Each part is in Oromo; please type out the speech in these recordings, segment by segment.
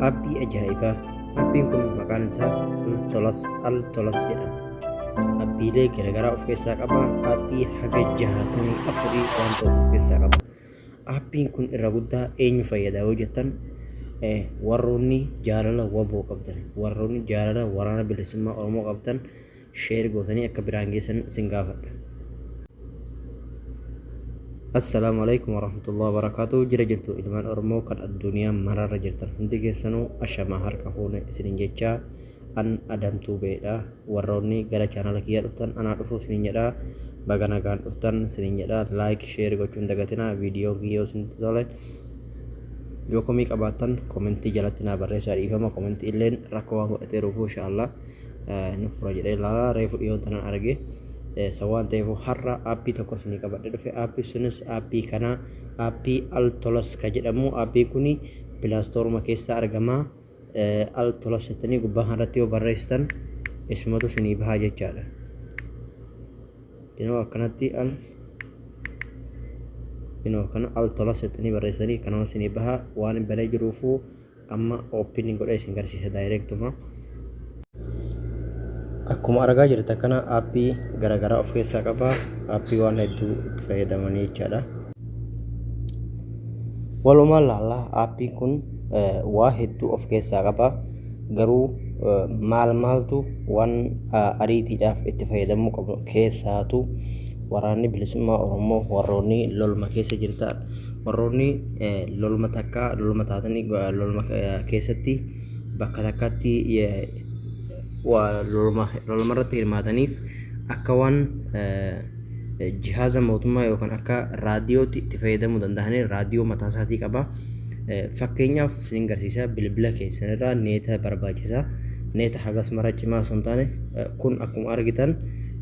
Aapii ajaa'ibaa. Aappiin kun maqaan isaa Altolas Altolas jedhama. Aappiilee garaagaraa of keessaa qaba. Aappii haga jahaatamii afurii waan ta'u of keessaa qaba. Aappiin kun irra guddaa eenyu fayyada yoo jettan warroonni jaalala waboo qabdan, warroonni jaalala waraana bilisummaa Oromoo qabdan share gootanii akka biraan geessan isin gaafadha. Assalaamu alaikum warahmatullahi wabarakatuh jira jirtu ilmaan Oromoo kan addunyaa maraarra jirtan hundi keessanuu ashamaa harka fuune isinin jechaa an adamtuu beedha warroonni gara chaanala kiyyaa dhuftan anaa dhufuu isinin jedha baga nagaan dhuftan isinin jedha like share gochuun dagatinaa viidiyoo kiyyoo isinitti tole yoo komii qabaattan komentii jalatti naa barreessaa dhiifama komentii illeen rakkoo waan godhateeruuf insha Allah ni fura jedhee ilaalaa reefu dhiyoon tanan arge san waan ta'eef har'a aappii tokko isinii qabadhe dhufe aappii sunis aappii kana aappii altolas ka jedhamu aappii kuni pilaastooruma keessaa argama altolas jettanii gubbaa kanarratti yoo barreessitan isumatu isinii bahaa jechaadha kunoo akkanatti al kunoo kana altolas jettanii barreessanii kanuma isinii bahaa waan hin balee jiruufuu Amma open godhee isin garsiisa direct uma. Akkuma argaa jirtan kana app garagaraa of keessaa qaba. App waan hedduu itti fayyadamanii jechaadha. Walumaan laallaa appiin kun waa hedduu of keessaa qaba. Garuu maal maaltu waan ariitiidhaaf itti fayyadamuu qabnu keessaatu waraanni bilisummaa Oromoo warroonni lolma keessa jirtan Warroonni loluma takka loluma taatanii loluma keessatti bakka takkaatti loluma irratti hirmaataniif akka waan jihaaza mootummaa yookaan akka raadiyootti itti fayyadamuu danda'anii raadiyoo mataa isaatii qaba. Fakkeenyaaf isin garsiisa bilbila keessanirraa neeta barbaachisa. Neeta hagas mara cimaa osoo hin taane kun akkuma argitan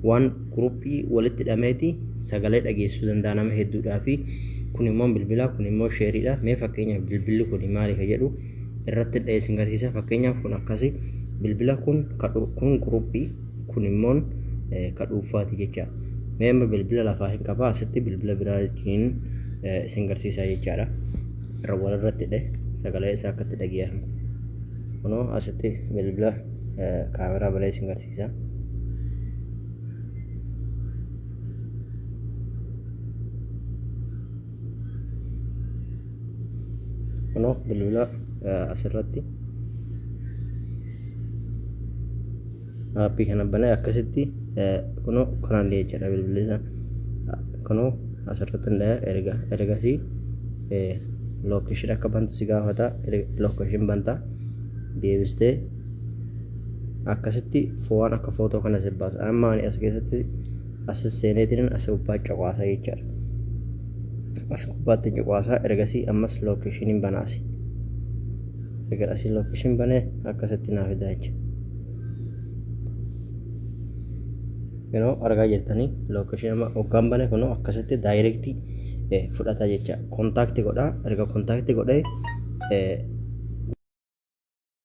waan Guruuppii walitti hidhameeti sagalee dhageessisuu danda'a nama hedduudhaafi. Kun immoo bilbila, kun immoo sheeriidha. Mee fakkeenyaaf bilbilli kun maali ka jedhu irratti dha'ee isin garsiisa. Fakkeenyaaf kun akkasi bilbila kun kun guruuppii kun immoo ka dhuunfaati jecha. Mee amma bilbila lafaa hin qabaa asitti bilbila biraa hin isin garsiisaa jechaadha. Irra walirratti dhe sagalee isaa akkatti dhageeffamu. Kunoo asitti bilbila kaameraa malee isin garsiisa. Isa. Kunoo bilbila asirratti aappii kana banee akkasitti kunoo kanaan jechaadha bilbilli isaa kunoo asirratti hundaa'a erga ergasii lookeeshin akka bantu si gaafata lookeeshin banta deebistee akkasitti fo'aan akka footoo kana si baasa amma ani as keessatti as seeneetiin as gubbaa cuqaasa jechaadha as gubbaatti cuqaasaa ergasii ammas lookeeshiniin banaasi erga asii lookeeshin banee akkasitti naa fidaa jecha yeroo argaa jirtanii lookeeshin amma hoggaan bane kunoo akkasitti daayirektii fudhata jecha kontaakti godhaa erga kontaakti godhee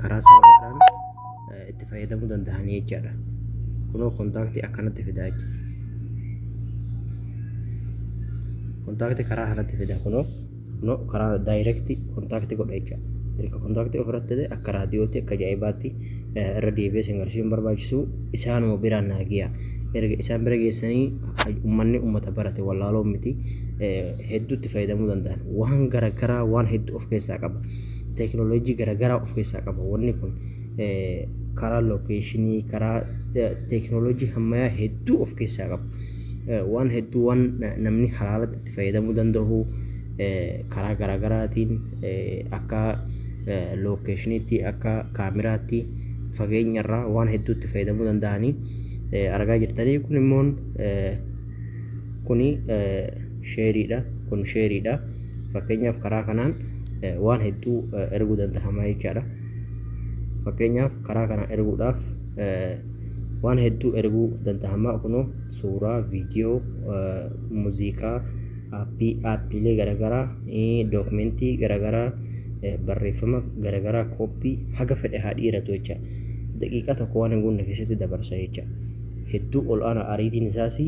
karaa salphaadhaan eh, itti fayyadamuu danda'anii jechaadha. Kunoo kontaaktii akkanatti fidaa jechuudha. Kontaaktii karaa kanatti fida kunoo. no karaa daayirekti kontaakti godha jecha erga kontaakti ofirratti ta'e akka raadiyootti akka ajaa'ibaatti eh, irra deebi'ee isin garsiisuun barbaachisu isaanuma biraan naa giya erga isaan bira geessanii ummanni ummata barate wallaaloo miti eh, hedduutti fayyadamuu danda'an waan garagaraa waan hedduu of keessaa qaba teekinooloojii garagaraa of keessaa qaba wanni kun eh, karaa lookeeshinii karaa eh, teekinooloojii hammayaa hedduu of keessaa qaba Eh, waan hedduu waan na- namni halaalatti fayyadamuu danda'u karaa garaagaraatiin akka lookeeshiniitti akka kaamiraatti fageenya irraa waan hedduutti fayyadamuu danda'anii argaa jirtanii kun immoo kuni sheeriidha kun sheeriidha fakkeenyaaf karaa kanaan waan hedduu erguu danda'ama jechaadha fakkeenyaaf karaa kana erguudhaaf waan hedduu erguu danda'ama kunoo suuraa, viidiyoo, muuziqaa, aappii, aappiilee garaagaraa, dookumentii garaagaraa, barreeffama garaagaraa kooppii haga fedhe haa dhiiratu jecha. Daqiiqaa tokko waan hin guunne keessatti dabarsa jecha. Hedduu ol aanaa ariitiin isaas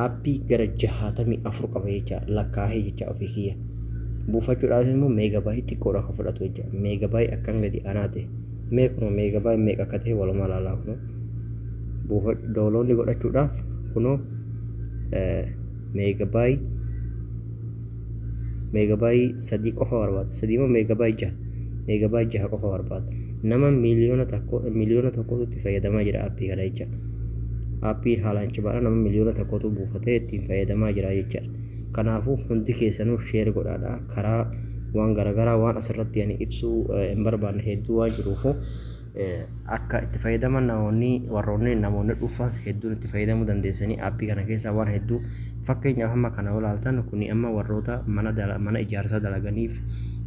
aappii gara jahaatamii afur qaba jecha lakkaa'ee jecha ofii kiyya. Buufachuudhaaf immoo meegabaayii xiqqoodha kan fudhatu jecha. Meegabaayii akkan gadi aanaa ta'e. Mee kunoo meegabaayit meeqa akka ta'e walumaa ilaalaa kunoo buufa dooloonni godhachuudhaaf kunoo meegabaayit meegabaayit sadii qofa barbaada sadii moo meegabaayit jaha meegabaayit jaha qofa barbaada nama miiliyoona tokko miiliyoona tokkotu itti fayyadamaa jira aappii kana jecha aappii haalaan cimaadha nama miiliyoona tokkotu buufatee ittiin fayyadamaa jira jechaadha kanaafuu hundi keessanuu sheer godhaadha karaa waan garagaraa waan asirratti ani ibsuu hin barbaanne hedduu waan jiruufu akka itti fayyadaman namoonni warroonni namoonni dhuunfaas hedduun itti fayyadamuu dandeessanii appii kana keessaa waan hedduu fakkeenyaaf amma kana yoo ilaaltan kun amma warroota mana dala- mana ijaarsaa dalaganiif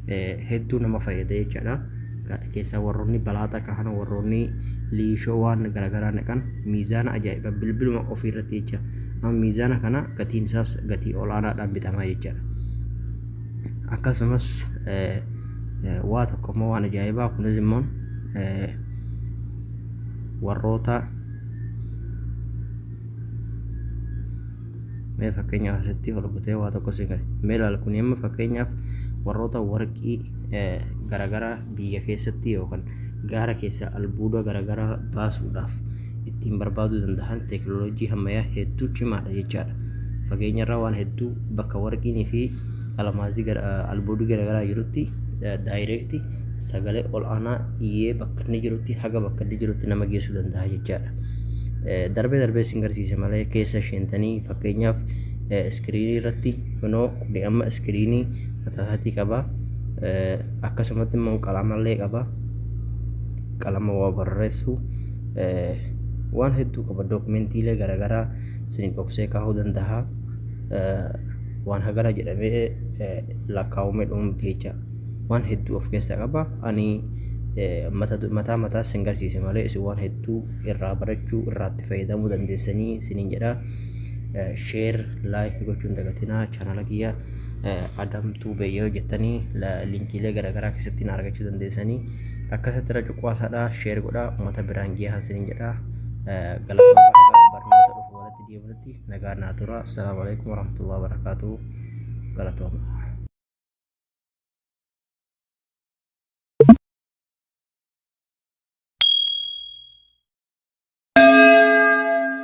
eh, hedduu nama fayyada jechaadha. Ka- Keessaa warroonni balaaxaa kahan warroonni liishoo waan garagaraa naqan miizaana ajaa'iba bilbiluma ofii irratti jecha Amma miizaana kana gatiin isaas gatii olaanaadhaan bitama jechaadha. Akkasumas eh, eh, waa tokko immoo waan ajaa'ibaa kunis immoo eh, warroota mee fakkeenyaaf asitti ol butee waa tokko siin gadi mee ilaali kun amma fakkeenyaaf warroota warqii eh, garaagaraa biyya keessatti yookaan gaara keessaa albuuda garaagaraa baasuudhaaf ittiin barbaaduu danda'an teeknooloojii hammayyaa hedduu cimaadha jechaadha. Fageenyarraa waan hedduu bakka warqiinii fi almaazii gara albuudii garaagaraa jirutti daayireekti sagalee ol'aanaa iyyee bakka inni jirutti haga bakka inni jirutti nama geessuu danda'a jechaadha. Darbee darbee isin garsiise malee keessa sheentanii fakkeenyaaf iskiriinii irratti kunoo kuni amma iskiriinii mataa isaatii qaba. Akkasumatti immoo qalamallee qaba. Qalama waa barreessuu. waan hedduu qaba dookumentiilee garaagaraa isiniif dhoksee kaa'uu danda'a waan hagana jedhamee lakkaa'umee dhumu miti jecha waan hedduu of keessaa qaba ani mataa mataa sin garsiise malee isin waan hedduu irraa barachuu irraatti fayyadamuu dandeessanii isiniin jedha sheer laayikii gochuun dagatinaa chaanala kiyya adamtuu beeyyoo jettanii linkiilee garaagaraa keessatti na argachuu dandeessanii Akkasatti irra cuqqaasaadha sheer godha uummata biraan geehaa sinin jedha galatoomaa hagaa barnoota dhufu walitti deebinutti nagaa naa tura assalaamu alaikum warahmatullahi wabarakaatuu galatoomaa.